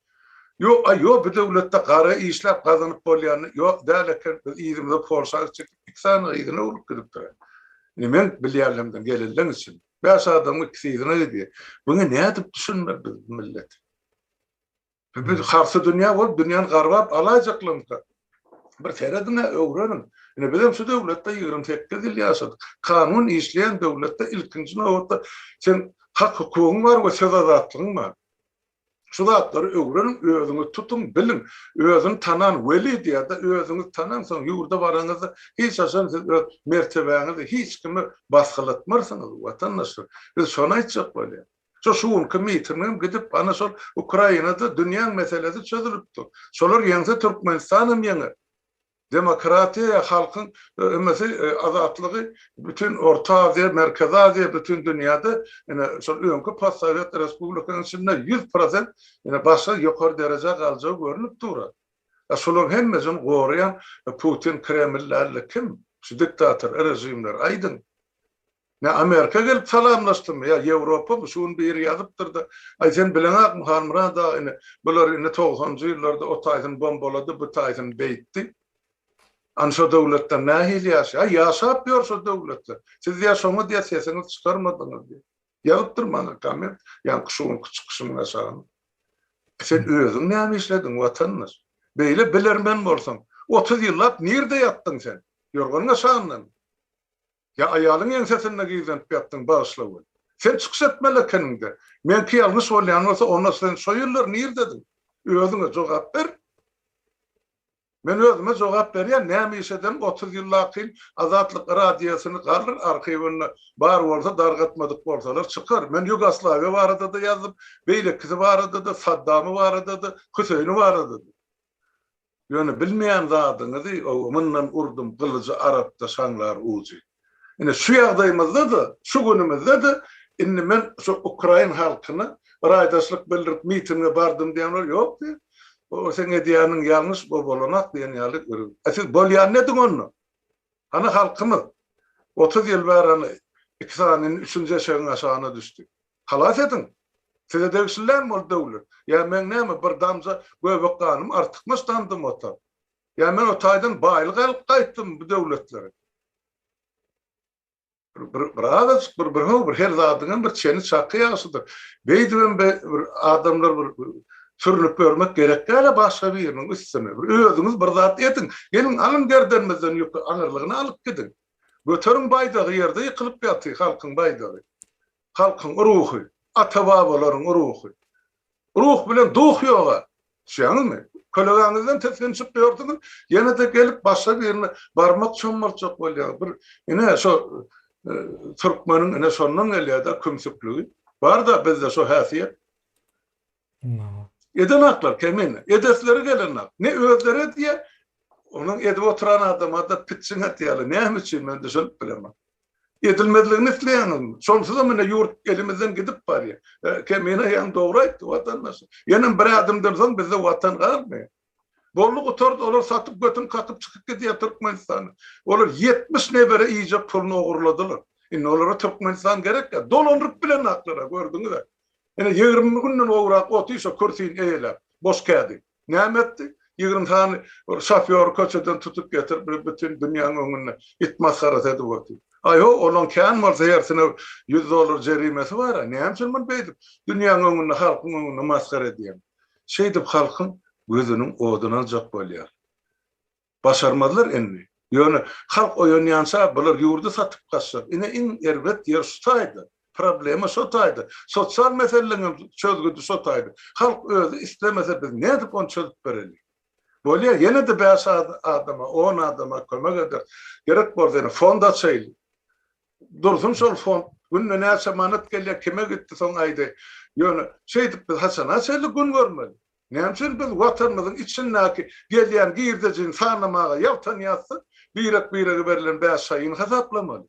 Ýok, aý, ýok, bu döwletde gara işläp gazanyp bolýany, ýok, däl eken, biz yzymyza porsag çekip, iki sany gyzyny urlup gidipdir-ä. Indi men bilýänlemden gelenleň üçin, bäş adamyň ikisi yzyna gidýär. Muňa nädip düşünmeli biz bu millet? Bu biz harsy dünýä bolup, dünýäni garbap alaýjaklygymyzka? Bir serediň-ä, öwreniň. Indi bizem şu döwletde ýigrimi sekiz ýyl ýaşadyk. Kanun işleýän döwletde ilkinji nobatda seň hak-hukugyň bar we söz azatlygyň bar. Şu zatlary öwreniň, özüňiz tutuň, biliň. Özüni tanan weli diýer-de, özüňizi tanaň, soň ýurda baraňyzda, hiç haçan siz öz mertebäňizi hiç kime basgylatmarsyňyz, watandaşlar. Biz şony aýtjak bolýar. Şu şu günki mitingem gidip, ana şol Ukrainada dünýäň meselesi çözülip dur. Şolar ýeňse Türkmenistan hem ýeňer. Demokratiýa halkyň ümesi azatlygy bütin Orta Aziýa, Merkezi Aziýa, bütin dünýäde ine şol öňki postsowet respublikaň içinde ýüz prosent ine başga ýokary derejä galjagy görnüp dur. A şolaryň hemmesini goraýan Putin Kreml dälde kim? Şu diktator režimler aýdyň. Nä Amerika gelip salamlaşdymy ýa Ýewropamy şu gün biri ýazypdyrda aý sen bileňakmy Halmyrat aga ine bular indi togsanjy ýyllarda o taýsyny bombalady bu taýsyny beýtdi any şo döwletler nähili ýaşaýar aý ýaşap ýör şo döwletler siz ýa şoňyz ýa sesiňizi çykarmadyňyz diýip ýazypdyr maňa komment ýaňky şu günki çykyşymyň aşagyna sen özüň näme işlediň watandaş beýle bilermen bolsaň otuz ýyllap nirde ýatdyň sen ýorganyň aşagyndamy. Ýa aýalyň ýeňsesinde gizlenip ýatdyň, bagyşla weli. Sen çykyş etmeli ekeniň-de. Meňki ýalňyş bolýan bolsa, onda sen şo ýyllar nirdediň? Özüňe jogap ber! Men özüme jogap berýän, näme iş ederin, otuz ýyl lakin Azatlyk Radiosyny galyr arhiwinde, bar bolsa dargatmadyk bolsalar çykar. Men Ýugoslawiýa barada-da ýazdym, beýlekisi barada-da, Saddamy barada-da, Hüseýini barada-da. Ýöne bilmeýän zadyňyzy mundan urdum gylyjy arapda şaňlar ujy. Ine şu ýagdaýymyzda-da, şu günümizde-de indi men şu ukrain halkyna raýdaşlyk bildirip mitinge bardym diýen bolup ýok diý. O seň edýäniň ýalňyş bu bolanak diýen ýaly görüp. A siz bolýan nediň onda? Hany halkymyz? Otuz ýyl bäri hany iki sany indi üçünji eşegiň aşagyna düşdi. Halas ediň! Size degişli dälmi ol döwlet? Ýa meň näme, bir damja göbek ganym artykmaç damdymy ota? Ýa men o taýdan baýlyk alyp gaýtdymmy bu döwletleri? Bir azajyk bir bir how, bir her zadyňam bir çeni çaky ýagşydyr. Beýdibem be bir adamlar bir sürnüp ýörmek gerek däl-ä başga biriniň üstüne. Bir özüňiz bir zat ediň. Geliň, alyň gerdenimizden ýüki, aňyrlygyna alyp gidiň. Göteriň baýdagy, ýerde ýykylyp ýaty halkyň baýdagy. halkyň ruhy, ata-babalaryň ruhy. Ruh bilen duh ýog-a. Düşýäňizmi? Kölegäňizden tisginçip ýörsüňiz, ýene-de gelip başga birine barmak çommaltjak bolýaňyz. Bir, ine, şo türkmeniň, ine, şondan gelýär-dä kümsükligi. Bar-da bizde şo häsiýet. Edenaklar kemine, edesleri gelenak. Ne özleri edýä, onuň edip oturan adama-da pitjiň atýarlar. Näme üçin, men düşünip bilemok. Edilmezligini isleýäňizmi? Şonsuzam ine ýurt elimizden gidip barýa. Kemine ýaňy dogry aýtdy, watandaş. Ýenem bir ädimden soň bizde watan galmaýa. Boldy gutardy olar satyp götün kakyp çykyp gidýär Türkmenistany. Olar ýetmiş nebere iýjek puluny ogurladylar. Indi olara Türkmenistan gerek ýa dolandyryp bilenaklara gördüňiza. Ine ýigrimi günden gowrak otyr şo kürsini eýeläp boş kädi. Näme etdi? Ýigrimi sany şofýory köçeden tutup getirip bir bütin dünýäň öňünde it masgarasy edip otyr. Aý ho olaň kän bolsa hersine ýüz dollar jerimesi bara näme üçin muny beýdip dünýäň öňünde halkyň öňünde masgara edýäň. Şeýdip halkyň gözüniň oduny aljak bolýar. Başarmazlar indi. Ýöne halk oýanýança bular ýurdy satyp gaçjak. Ine iň erbet ýer şu taýda. Problema şo taýda. Sosial meselelerň hem çözgüdi şo taýda. Halk özi islemese biz nädip ony çözüp bereli. Bolýa ýene-de bäş adama, on adama kömek ederis. Gerek bolsa ýene fond açaýly. Dursun şol fond günde näçe manat gelýär kime gitdi soň aýdaý. Ýöne şeýdip biz haçana çenli gün görmeli? Näme üçin biz watanymyzyň içindäki gelýän girdejini sanamaga ýaltanýasda birek birege berlen bäşaýyny hasaplamaly?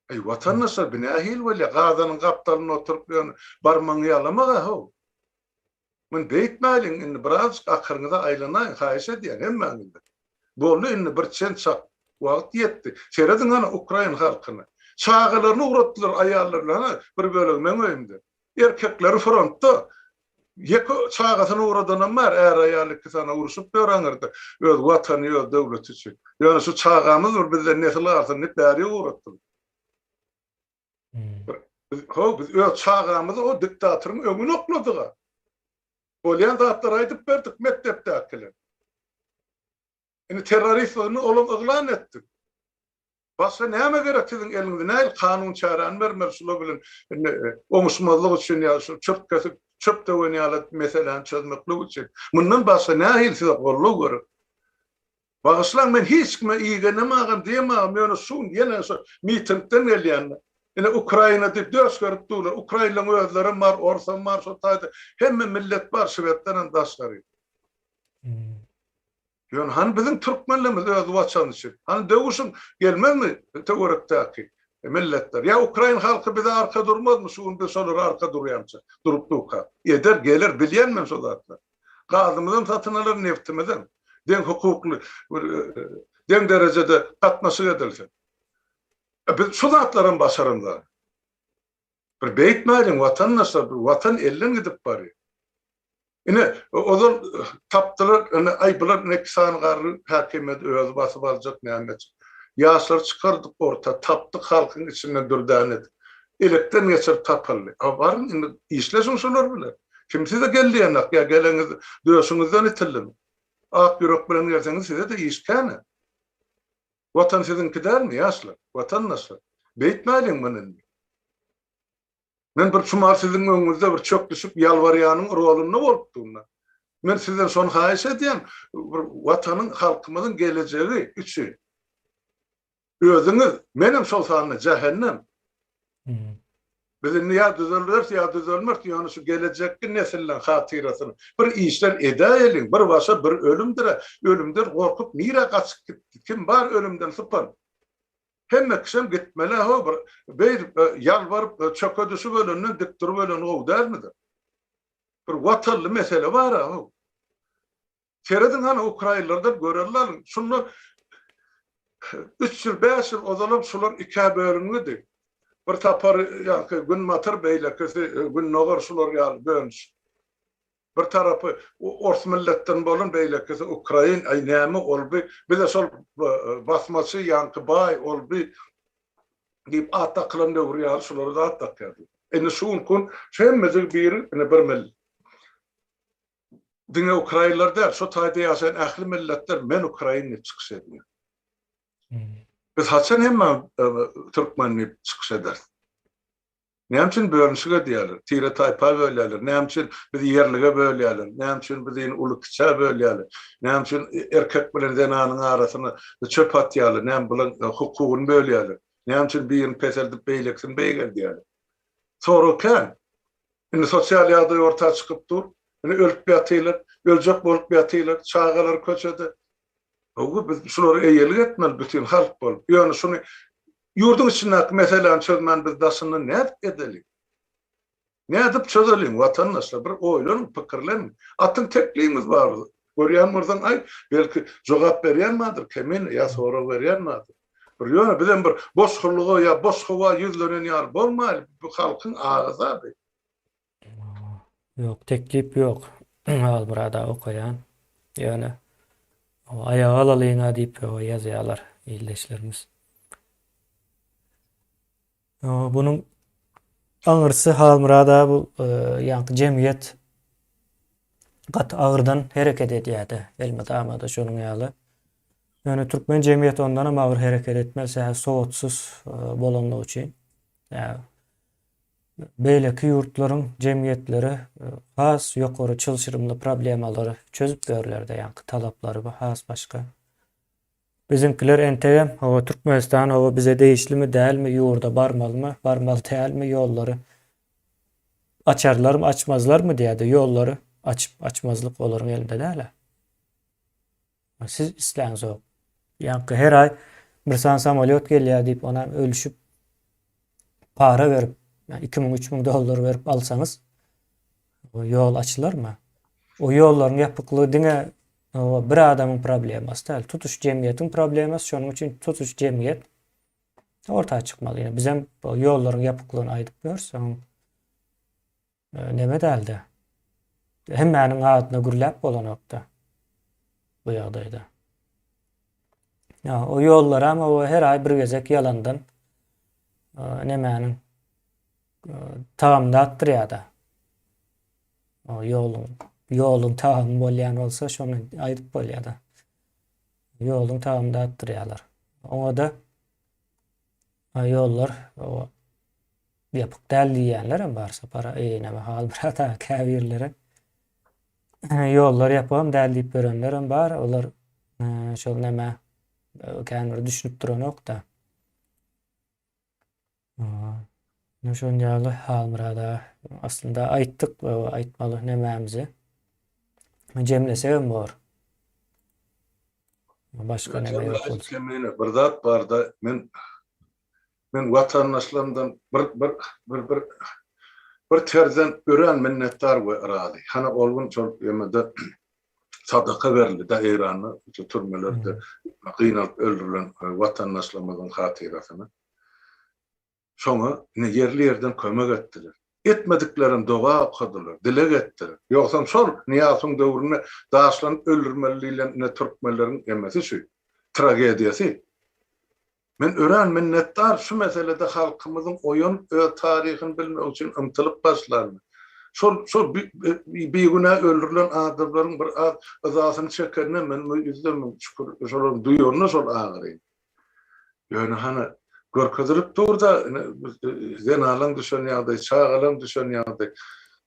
Eý watandaşlar bi nähili bolýar gazanyň gapdalynda oturyp ýöne barmagyňy ýalamaga how. Muny beýtmäliň, indi birazjyk akyryňyza aýlanaýyň, haýyş edýän, hemmäňizden. Boldy, indi bir çen-çak wagt ýetdi. Serediň hany ukrain halkyna. Çagalaryny ugratdylar, aýallary bilen, hany, bir bölegi meň öýümde. Erkekleri frontda. Ýeke çagasyny ugradanam bar, är-aýal iki sany urşup ýör aňyrda, öz Watany, öz döwleti üçin. Ýöne şu çagamyz bir bizden nesil galsyn diýip, bäri ugratdylar. Ho, biz öz çagamyzy o diktatoryň öňüne okladyga. Bolýan zatlary aýdyp berdik mekdepdäkiler. Indi terroristligini olam yglan etdik. Başga näme gerek siziň eliňize? Nähili kanun çäräni bermeli şular bilen indi oňuşmazlyk üçin ýa-da şu çöp kesip, çöp döwen ýaly meseläni çözmeklik üçin? Mundan başga nähili size goldaw gerek? Bagyşlaň men hiç kime igenemagam diýemagam ýöne şu gün ýene şo mitingden gelýände ine Ukraina diýip döşgerip durlar Ukrainlaň özlerem bar orsam bar şo taýda hemme millet bar şwedlerem daşgary. Ýöne hany biziň türkmenlerimiz öz waçany üçin hany döwüşiň gelmezmi töwerekdäki milletler ýa Ukrain halky bize arka durmazmy şu gün biz şolara arka durýamyşa durup durka eder geler bilýän men şo zatlary. gazymyzam satyn alar, neftimizem deň hukukly bir deň derejede gatnaşyk edilse. Biz şu zatlaram başarandagy. Bir beýtmäliň watandaşlar, bir watan elden gidip barýar. Ine, ozal tapdylar, ine, aý bular ine iki sany garry häkimiýet özi basyp aljak näme etjek. Ýaşlary çykardyk orta, tapdyk halkyň içinden dürdäne edip. Elekden geçirip tapyldy. A baryň indi işleşiň şolar bilen. Kim size gel diýenak, ýa geleňiz döşüňizden itildimi? Ak ýürek bilen gelseňiz size-de iş kän-ä. Watan siziňki dälmi, ýaşlar, watandaşlar? Beýtmäliň muny indi. Men bir çumar siziň öňüňizde bir çöklüşip ýalbarýanyň rolunda bolupdym-da. Men sizden şony haýyş edýän, bir watanyň, halkymyzyň gelejegi üçin Özüňiz, menem şol sanda jähennem. Biz indi ýa düzelderis, ýa düzelmeris, ýöne şu gelejekki nesilleriň hatyrasyna bir işler edäýeliň, bir başa bir ölümdir-ä, ölümden gorkup nirä gaçyp gitdi, kim bar ölümden sypan? Hemme kişem gitmeli-ä ho, bir beýdip ýalbaryp çöke düşüp ölenden dik durup ölen gowy dälmidir? Bir watanly mesele bar-a ho. Serediň hany ukrainlerden görerini alyň. Şundan üç ýyl, bäş ýyl ozalam şular ikä bölünmidi. Bir sapar ýaňky günbatar beýlekisi gündogar şular ýaly bölünş. Bir tarapy ors milletden bolan beýlekisi ukrain, aý näme olby bize şol basmaçy ýaňky baý olby diýip at dakylan döwür ýaly şulara-da at dakýardylar. Indi şu gün kun hemmesi bir indi bir millet. diňe ukrainler däl, şu taýda ýaşaýan ähli milletler men ukrain diýip çykyş edýär. Biz haçan hemme türkmen diýip çykyş ederis? Näme üçin bölünişik edýärler? Tire-taýpa bölýärler. Näme üçin bizi ýerlige bölýärler? Näme üçin bizi uly-kiçä bölýärler? Näme üçin erkek bilen zenanyň arasyna çöp atýarlar? Näme bulaň hukugyny bölýärler? Näme üçin birini peseldip beýlekisini beýgeldýärler? Sorag kän. Indi sosial ýagdaý orta çykyp dur. Indi ölüp ýatylar, öljek bolup ýatylar, çagalar köçede. Howwa biz şulara eýelik etmeli bütin halk bolup. Ýöne şuny ýurduň içindäki meseläni çözmän biz daşyndan nädip edeliň? Nädip çözeliň watandaşlar bir oýlanyň pikirleniň. Atyň tekligiňiz bar Görýän bolsaň aýt, belki jogap berýän bardyr, kemine, ýa sorag berýän bardyr. Bir ýöne bizem bir boş hyllyga ýa boş howa ýüzlenen ýaly bolmaýlyp, bu halkyň agysady. Ýok, teklip ýok. Halmyrada okaýan. Ýöne aýaga alalyňa diýip ýazýarlar ildeşlerimiz. Bunuň aňyrsy Halmyrada bu ýaňky jemgyýet gaty agyrdan hereket edýärdi. Elmydama-da şonuň ýaly. Ýöne türkmen jemgyýeti ondan hem agyr hereket etmeli, sebäbi sowatsyz bolanlygy üçin. Beýleki ýurtlaryň jemgyýetleri has ýokary çylşyrymly problemalary çözüp berlerde, ýaňky talaplary has başga. Biziňkiler entegem hawa Türkmenistan hawa bize degişlimi dälmi ýurda barmalymy barmaly dälmi ýollary açarlarmy açmazlarmy diýädä ýollary açyp açmazlyk olaryň elinde dälä siz isläňzok ýaňky her aý bir sany samalýot gelýä diýip ony hem ölüşip para berip ýa iki müň üç müň dollar berip alsaňyz ýol açylarmy o ýollaryň ýapyklygy diňe Bu bir adamyň problemasy däl, tutuş jemgyýetiň problemasy, şonuň üçin tutuş jemgyýet orta çykmaly. Ýöne biz hem bu ýollaryň ýapyklygyny aýdyp ýörüs, soň neme däldi? Hemmäniň adyna gürläp bolanokda bu ýagdaýda. Ýa, o ýollar hem o her aý bir gezek ýalandan nemäniň tagamyny atdyrýar-da. Ýoluň, ýoluň tagamy bolýan bolsa, şony aýdyp bolýar-da. Ýoluň tagamy datdyrýarlar. Oňa-da ýollar ýapyk däl diýýänler hem bar sapara, eý, näme hal brata, käbirleri. Ýollar ýapygam däl diýip ýörenler hem bar, olar şol näme, känbiri düşünip duranok-da. Ine şon ýaly Halmyrat aga. Aslynda aýtdyk aýtmaly nemämizi. Jemlesegem bor. Başga neme ýok bolsa. Jemläýsek bir zat barda men men watandaşlarymdan bir bir bir bir bir terden örän minnetdar we razy. Hany ol gün şol ýomede sadaka berildi da Eýranda şu türmelerde gynalyp öldürilen watandaşlarymyzyň hatyrasyna. Şoňa ine ýerli ýerden kömek etdiler. Etmediklerem doga okadylar, dileg etdiler. Ýogsam şol Nyýasowyň döwründe daşlanyp öldürmeli diýlen ine türkmenleriň emesi şu, tragediýasy. Men örän minnetdar şu meselede halkymyzyň oýanyp öz taryhyny bilmek üçin ymtylyp başlanyna. Şol şol bigünä öldürilen adamlaryň bir az yzasyny çekenine men ýüzde müň şükür şolary duýanyna şol agyry. Ýöne hany, görkezilip dur-da, zenanlaň düşen ýagdaýy, çagalaň düşen ýagdaýy.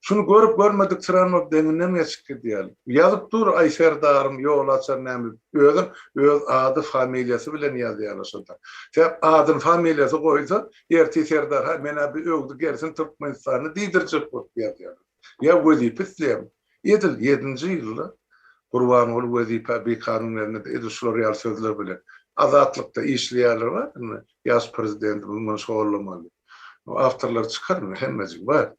Şuny görüp görmedik sranok deňinden geçip gidýär. Ýazyp dur, Aý Serdaryň ýol açar näme, özem öz ady, familiýasy bilen ýazýarlar şonda. Tä adyny, familiýasy goýsa, ertir Serdar, Haý, men-ä bir öwdi gelsin Türkmenistany diýdirjek bolup ýazýarlar. Ýa wezipe isleýärmi? Edil ýedinji ýylda Gurbanguly wezipä bikanun berende-de edil şular ýaly sözler bilen, Azatlykda işleýärler bar, indi ýaş prezidentimiz muny şollamaly diýip. Munuň awtorlary çykar indi, hemmejigi bar.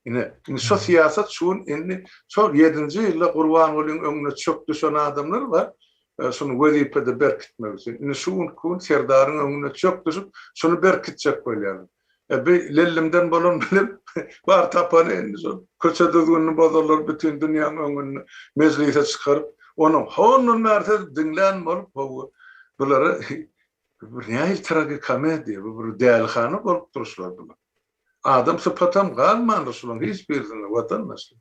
Ine, indi şo syýasat şu gün indi şol ýedinji ýylda Gurbangulyň öňüne çök düşen adamlar bar, şuny wezipede berkitmek üçin. Indi şu günki gün Serdaryň öňüne çök düşüp, şuny berkitjek bolýarlar. E bi lellimden bolan bilim bar tapany indi şol. Köçe düzgünini bozarlar bütin dünýäň öňünde mejlise çykaryp, onuň hondan bäri siz diňlän bolup howwa. Bulara bu bir nähili tragikomediýa, bu bir dälihana bolup dur şular bilen. Adam sypatam galmandyr şulaň hiç birisinde watandaşlar.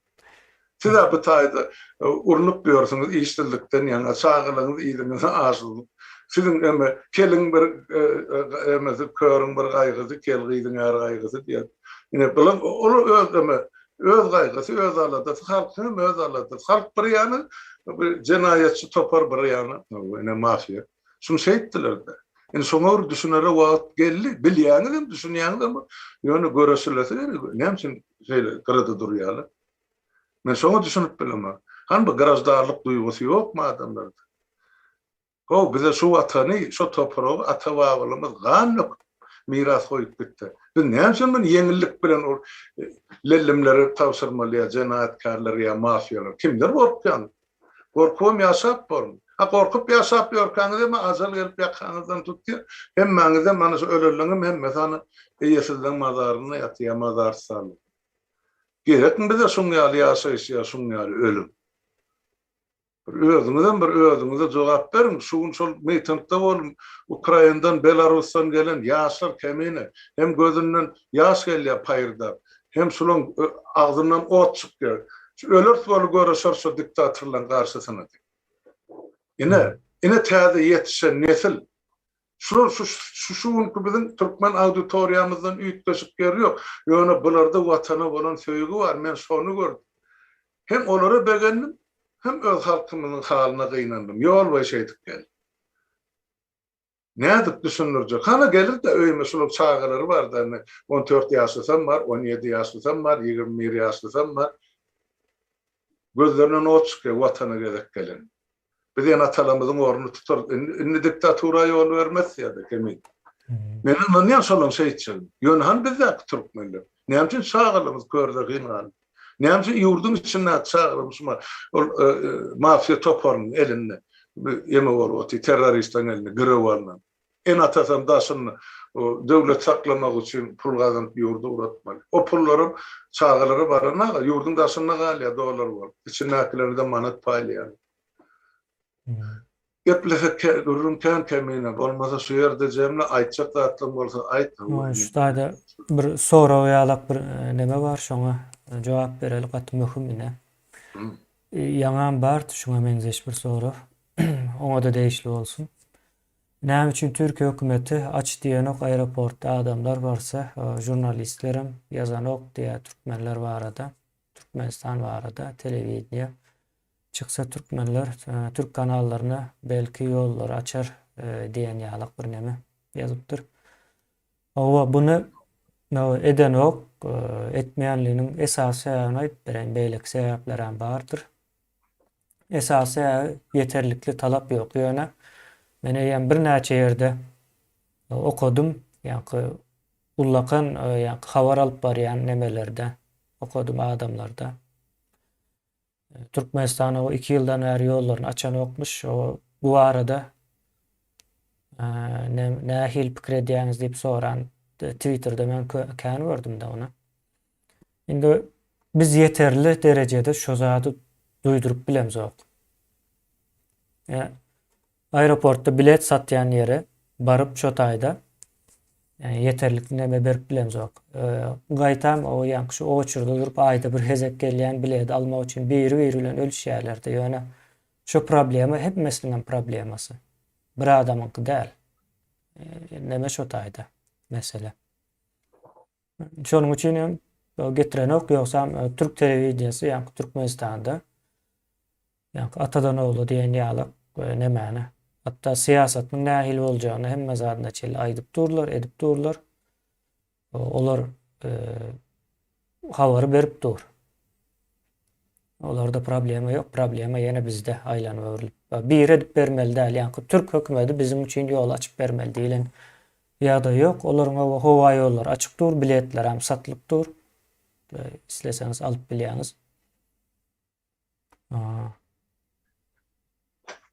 Siz-ä bu taýda urnup ýörsüňiz işsizlikden ýaňa, çagalaryňyz yzyňyza aşurup. Siziň eme, keliň bir emesi, körüň bir gaýgysy, kel gyzyň är gaýgysy diýen. Ine, bular ol öz eme, öz gaýgysy, öz aladasy, halkyň hem öz aladasy. Halk bir ýana, bu jenaýatçy topar bir ýana, ene, mafiýa. Şuny şeýtdiler-de. Indi şoňa bir düşünere wagt geldi. Bilýäňizem, düşünýäňizem, ýöne göreşilesi gerek. Näme üçin şeýle gyrada durýarlar? Men şoňa düşünip bilemok. Hany bu graždarlyk duýgusy ýokmy adamlarda? Ho, bize şu watany, şo topragy ata-babalarymyz gan döküp miras goýup gitdi. Biz näme üçin muny ýeňillik bilen ol lellimlere tabşyrmaly ýa jenaýatkärlere ýa mafiýalara? Kimden gorkýaň? Gorkubam ýaşap bormy? Ha gorkup ýaşap ýörkäňizem ajal gelip ýakaňyzdan tutýar. Hemmäňizem, ana şu ölenleriňem hemmesi ana eýesizleň mazarynda ýatýar ýa mazarstanda. Gerekmi bize şuň ýaly ýaşaýyş ýa şuň ýaly ölüm? Bir özüňizem bir özüňize jogap beriň. Şu gün şol mitingde boldum. Ukraindan, Belarusdan gelen ýaşlar kemine. Hem gözünden ýaş gelýär paýyrdap. Hem şulaň agzyndan ot çykýar. Şu öleris weli göreşeris şu diktatorlaň garşysyna diýip. Ine, ine täze ýetişen nesil. Şular şu şu günki biziň türkmen auditoriýamyzdan üýtgeşik ýeri ýok. Ýöne bularda watana bolan söýgi bar, men şony gördüm. Hem olara begendim, hem öz halkymyzyň halyna gynandym. Ýol boýy şeýdip geldim. Nädip düşündirjek? Hany gelir-de öýüme şularyň çagalary bar-da indi on dört ýaşlysam bar, on ýedi ýaşlysam bar, ýigrimi bir ýaşlysam bar. Gözlerinden ot çykýar watana gezek gelende. Biz ene-atalarymyzyň ornuny tutarys. Indi, indi diktatura ýol bermez ýa-da kimin. Men ynanýan şolaň şeýtjegine. Ýöne hany bizdäki türkmenler? Näme üçin çagalymyz kör zehin galyp? Näme üçin ýurduň içindäki çagalarymyz şuma ol mafiýa toparynyň elinde ýeme bolup otyr, terroristleriň elinde girew alnan? Ene-atasam daşynda döwlet saklamak üçin pul gazanyp ýurdy uratmaly. O pullaram çagalara baranaga ýurduň daşynda galýar dollar bolup. Içindäkilerden manat paýlaýarlar. Geplesek gürrüň kän kemine. Bolmasa şu ýerde jemle aýtjak zatlaň bolsa aýt. Şu taýda bir sorag ýalak bir neme bar şoňa jogap bereli gaty möhüm ine. Ýaňam bardy şuňa meňzeş bir sorag. Oňada degişli bolsun. Näme üçin Türkiýe hökümeti aç diýenok aeroportda adamlar barsa žurnalistlerem ýazanok diýýär türkmenler barada türkmenistan barada telewideniýe çyksa türkmenler türk kanallaryna belki ýollary açar diýen ýalak bir neme ýazypdyr howa buny edenok etmeýänliginiň esasy sebäbini aýdyp bereýin beýleki sebäplerem bardyr. Esasy äý ýeterlikli talap ýok ýöne men eýýäm birnäçe ýerde okadym ýaňky ullakan ýaňky habar alyp barýan nemelerde okadym adamlarda Türkmenistan o iki ýyldan bäri ýollaryny açanokmyş o bu barada nähili pikir edýäňiz diýip soran twitterde men kän gördüm-de ony. Indi biz ýeterli derejede şu zady duýduryp bilemzok. Ýa aeroportda bilet satýan ýere baryp şo taýda ýa ýeterlik neme berip bilemzok. Gaýtam o ýaňky şu oçurda durup aýda bir hezek gelýän biledi almak üçin biri-biri bilen ölüşýärlerde ýöne şu problema hemmesiniňem problemasy. Bir adamyňky däl. Neme şo taýda mesele. Şonuň üçin hem getirenok, ýogsam e, türk telewideniýesi ýaňky Türkmenistanda ýaňky atadan ogla diýen ýaly e, nemäni hatda syýasatynyň nähili boljagyny hemme zadyna çenli aýdyp durlar, edip durlar. Olar e, habary berip dur. Olarda problema ýok, problema ýene bizde aýlanyp öwrülip. Biri edip bermeli däl, ýaňky türk hökümedi biziň üçin ýol açyp bermeli diýlen ýagdaý ýok. Olaryň oba howa ýollary açyk dur, biletler hem satylyp dur. Isleseňiz alyp bilýäňiz.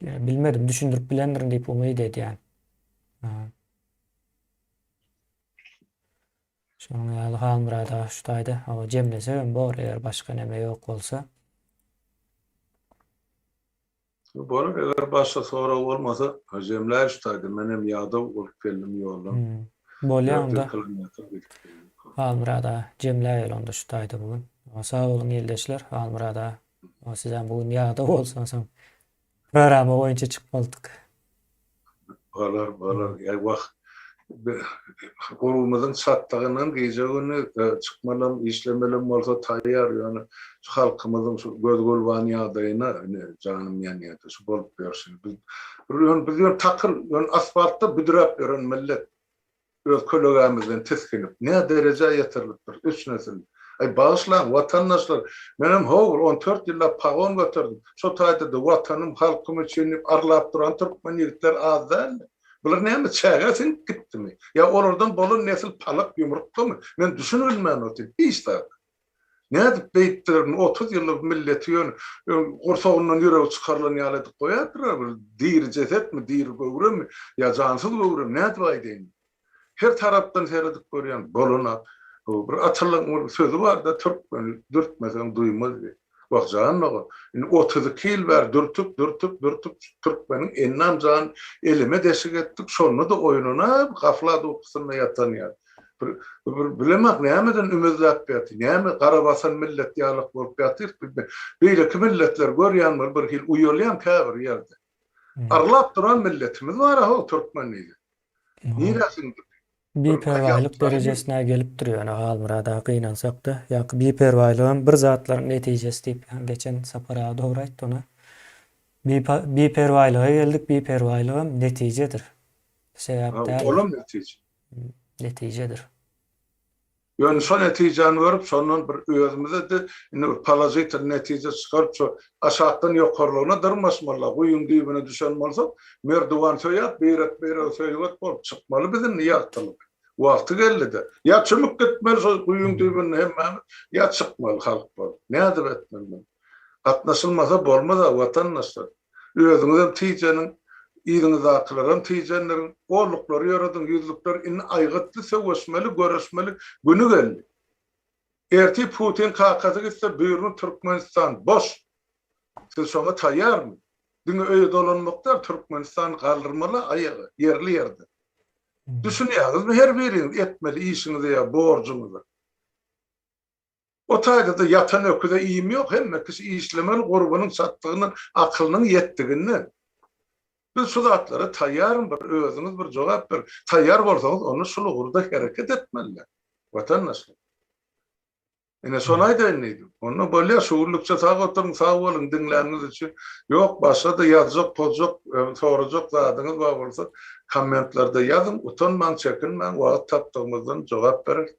Bilmedim, düşündirip bilendirin diýip umyt edýän. Şonuň ýaly Halmyrat aga şu taýda hawa jemlesegem bor eger başga näme ýok bolsa. Bolar eger başga sorag bolmasa jemläý şu taýda menem ýadaw bolup geldim ýoldan. Bolýa onda. Halmyrat aga jemläýeli onda şu taýda bu gün. Sag boluň ildeşler Halmyrat aga sizem bu gün ýadaw bolsaň soň Programa boýunça çyk boldyk. Balar balar ýa wah urugymyzyň çatlygyndan gije güni çykmalam işlemelem bolsa taýýar ýöne şu halkymyzyň şu göz gulban ýagdaýyna ine janym ýanýada şu bolup ýörşüni biz ýöne biz ýöne takyl ýöne asfaltda büdräp ýören millet. Öz kölegämizden tisginip, nä derejä ýetirilipdir, üç nesil. Aý, bagyşlaň, watandaşlar, menem howr, on dört ýyllap pagon göterdim. Şo taýda-da Watanym, halkym üçin diýip arlap duran türkmen ýigitler az däldi. Bular näme, çägä siňip gitdimi? Ýa olardan bolan nesil palak ýumurtgamy? Men düşünibilmän otyryn. Hiç zat. Nädip beýtdiler muny otuz ýyllyk milleti ýöne gursagyndan ýüregi çykarylan ýaly edip goýadylar bir diri jesetmi diri göwremi ýa jansyz göwremi nädip aýdaýyn her tarapdan seredip görýän bolana bu bir atalyň bir sözi barda türkmen dürtmeseň duýmaz diýip wah jan dogan indi otuz iki ýyl bäri dürtüp dürtüp dürtüp türkmeniň ennam jan eleme deşik etdik şonda-da oýananap gaflat ukusynda ýatan ýaly. Bir bir bilemok nämeden ümezläp ýatyr, näme gara basan millet ýalyk bolup ýatyr, beýleki milletler görýän bir bir hil uýalýan käbir ýerde. Arlap duran milletimiz bar aho türkmen diýdi. Nirä siňdi? Biperwaýlyk derejesine gelip dur ýöne Halmyrat aga gynansakda ýaňky biperwaýlygam bir zatlaryň netijesi diýip ýaňy geçen Sapar aga dogry aýtdy ony. Biperwaýlyga geldik biperwaýlygam netijedir. Sebäp däldir. Olam netije. netijedir. Ýöne şo netijäni görüp, şondan bir özümize-de indi bir položitel netije çykaryp, şo aşakdan ýokarlygyna dyrmaşmaly-la. Guýyň düýbüne düşen bolsak, merdiwan söýäp, beýrek-beýrege söýget bolup çykmaly biz indi ýagtylyk. Wagty geldi-de. Ýa çümüp gitmeli şo guýyň düýbünde hemmämiz, ýa çykmaly halk bolup. Nädip etmeli muny? Gatnaşylmasa bolmaz-a, watandaşlar. Özüňizem tijeniň, yzyňyzdakylaram tijendirin. Golluklary ýörediň, ýüzlükler indi aýgytly söweşmeli, göreşmeli güni geldi. Ertir Putin kakasy gitse, Buýruň, Türkmenistan boş. Siz şoňa taýýarmy? Diňe öýe dolanmak däl, Türkmenistany galdyrmaly aýaga, ýerli-ýerden. Düşünýäňizmi her biriňiz etmeli işiňize ýa borjuňyza? O taýda-da ýatan öküze iým ýok, hemme kişi işlemeli, gurbunyň çatdygyndan, akylynyň ýetdiginden. Biz şu zatlara taýýarmy, bir özüňiz bir jogap beriň. Taýýar bolsaňyz, onda şul ugurda hereket etmeliler, watandaşlar. Ine, şony aýdaýyn diýdim. Onda bolýar, şu günlükçe sag oturyň, sag boluň diňläniňiz üçin. Ýok, başga-da ýazjak-pozjak, sorajak zadyňyz bar bolsa, kommentlarda ýazyň, utanmaň, çekinmäň, wagt tapdygymyzdan jogap bereris.